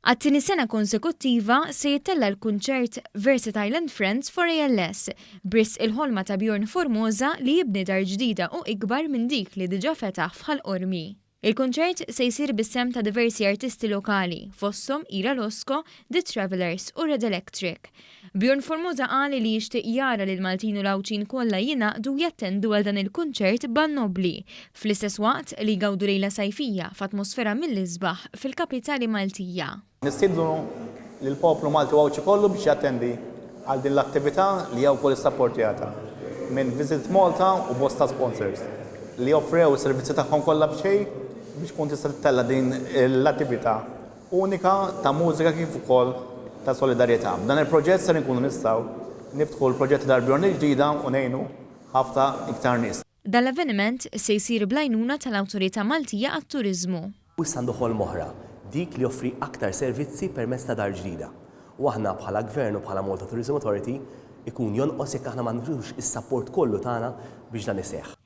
Għat-tieni sena konsekuttiva se jittella' l-kunċert Versatile and Friends for ALS, b'risq il-ħolma ta' Bjorn Formosa li jibni dar ġdida u ikbar minn dik li diġà fetaħ f'Ħal Qormi. Il-kunċert se jsir bis-sehem ta' diversi artisti lokali, fosthom Ira Losco, The Travellers u Red Electric. Bjorn Formosa qal li jixtieq jara li l-Maltin u l-Għawdxin kollha jingħaqdu jattendu għal dan il-kunċert band nobbli, fl-istess waqt li jgawdu lejla sajfija f'atmosfera mill-isbaħ fil-kapitali Maltija. Nistiednu lill-poplu Malti u Għawdxi kollu biex jattendi għal din l-attività li hija wkoll issapportjata minn Visit Malta u bosta sponsors li offrew is-servizzi tagħhom kollha b'xejn biex tkun tista' tittella' din l-attività unika ta' mużika kif ukoll ta' solidarjetà. B'dan il-proġett ser inkunu nistgħu niftħu l-proġetti tal-Bjorn il-ġdida u ngħinu ħafna iktar nies. Dan l-avveniment se jsir bl-għajnuna tal-Awtorità Maltija għat-Turiżmu. U issa għandu ħolma oħra, dik li joffri aktar servizzi permezz ta' dar ġdida. U aħna bħala Gvern u bħala Malta Tourism Authority, ikun jonqos jekk aħna ma nagħtux is-sapport kollu tagħna biex dan iseħħ.